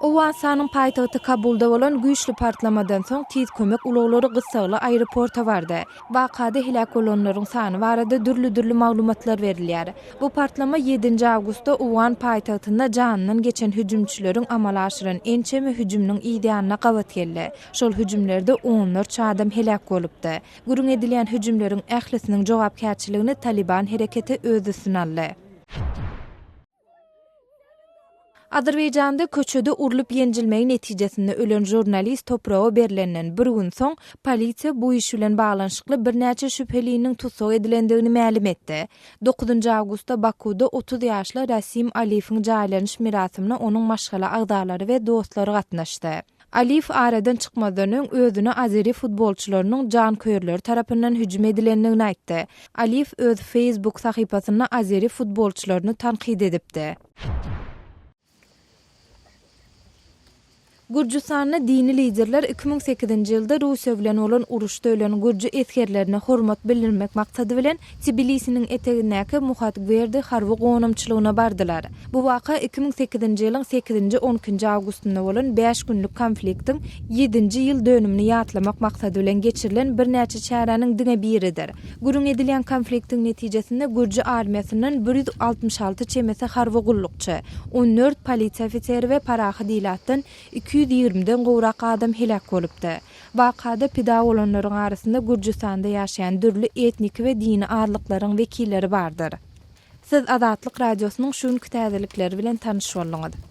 Owganystanyň paýtagty Kabulda bolan güýçli partlamadan soň tiz kömek ulaglary gyssagly aeroporta bardy. Wakada heläk bolanlaryň sany barada dürli-dürli maglumatlar berilýär. Bu partlama ýedinji awgustda owgan paýtagtynda janyndan geçen hüjümçileriň amala aşyran ençeme hüjüminiň yzýanyna gabat geldi. Şol hüjümlerde onlarça adam heläk bolupdy. Gürrüň edilýän hüjümleriň ählisiniň jogapkärçiligini Talyban hereketi öz üstüne aldy. Azerbaýjanda köçede urlup-ýenjilmegi netijesinde ölen žurnalist topraga berlenden bir gün soň, polisiýa bu iş bilen baglanyşykly birnäçe şübheliniň tussag edilendigini mälim etdi. Dokuzynjy awgustda Bakuwda otuz ýaşly Rasim Aliýewiň jaýlanyş merasimine onuň maşgala agzalary we dostlary gatnaşdy. Aliýew aradan çykmazdan öň özüne azeri futbolçylarynyň janköýerleri tarapyndan hüjüm edilendigini aýtdy. Aliýew öz Facebook sahypasynda azeri futbolçylaryny tankyt edipdi. Gürjüstanda dini liderler iki müň sekizinji ýylda Russiýa bilen bolan uruşda ölen gürji esgerlerine hormat bildirmek maksady bilen Tbilisiniň etegindäki Muhatgwerdi harby gonamçylygyna bardylar. Bu waka iki müň sekizinji ýylyň sekizinji, on ikinji awgustynda bolan bäş günlük konfliktiň ýedinji ýyl dönümini ýatlamak maksady bilen geçirilen birnäçe çäräniň diňe biridir. Gürrüň edilýän konfliktiň netijesinde gürji armiýasyndan bir ýüz altmyş alty çemesi harby gullukçy, on dört polisiýa ofiseri we parahat ilatdan iki ýüz ýigrimi den gowrak adam heläk bolupdy. Wakada pida bolanlaryň arasynda Gürjüstanda ýaşaýan dürli etniki we dini azlyklaryň wekilleri bardyr. Siz Azatlyk Radiosynyň şu günki täzelikleri bilen tanyş bolduňyz.